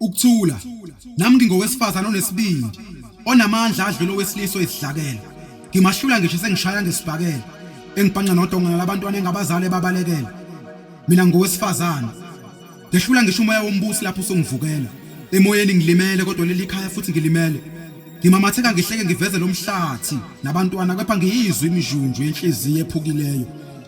Ukuthula. Nami ngingowesifazana onesibindi, onamandla adlula owesilisa oyisidlakela. Ngimahlula ngisho sengishaya ngesibhakela, engibhanqa nodongana labantwana engabazali ebabalekela. Mina ngingowesifazana. Ngehlula ngisho umoya wombusi lapho usungivukela. Emoyeni ngilimele kodwa leli khaya futhi ngilimele. Ngimamatheka ngihleke ngiveze lomhlathi nabantwana kepha ngiyizwa imijunju yenhliziyo ephukileyo.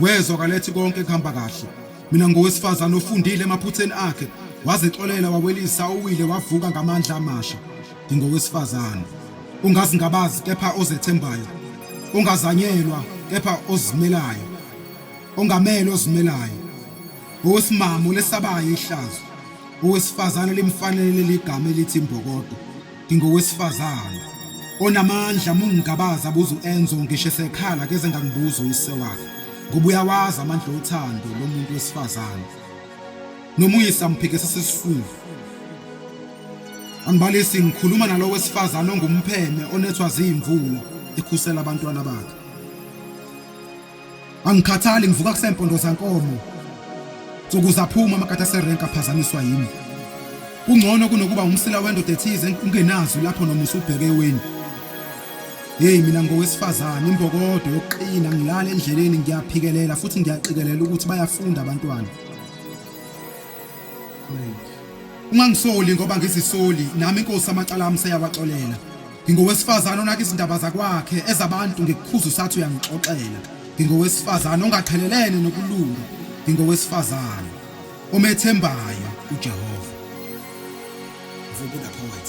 wezwa kalethi konke kuhamba kahle mina ngowesifazane ofundile emaphutheni akhe wazixolela wawelisa uwile wavuka ngamandla amasha ngingowesifazane ungazingabazi kepha ozethembayo ongazanyelwa kepha ozimelayo ongamele ozimelayo owesimamo lesabayo ihlazo owesifazane limfanele ligama elithi imbokodo Ngingowesifazane onamandla mungigabaza buza uEnzo ngisho esekhala keze ngangibuza uyise wakhe ngoba uyawazi amandla othando lomuntu wesifazane noma uyise amphikisa sesifundo angibalisi ngikhuluma nalowo wesifazane ongumpheme onethwa ziyimvula ekhusela abantwana bakhe Angikhathali ngivuka kusempondo zankomo. Nsuku zaphuma amakatha serenka aphazamiswa yimi. Kungcono kunokuba umsila wendoda ethize ungenazi lapho noma usubheke weni. Hey mina ngowesifazane imbokodo yokuqina ngilala endleleni ngiyaphikelela futhi ngiyaqikelela ukuthi bayafunda abantwana. Ungangisoli ngoba ngizisoli nami inkosi amacala ami seyawaxolela. Ngingowesifazane onaka izindaba zakwakhe ezabantu ngikukhuza usathi uyangixoxela. Ngingowesifazane ongaqhelelene nokulunga. Ngingowesifazane omethembayo uJehova. Vubuda poet.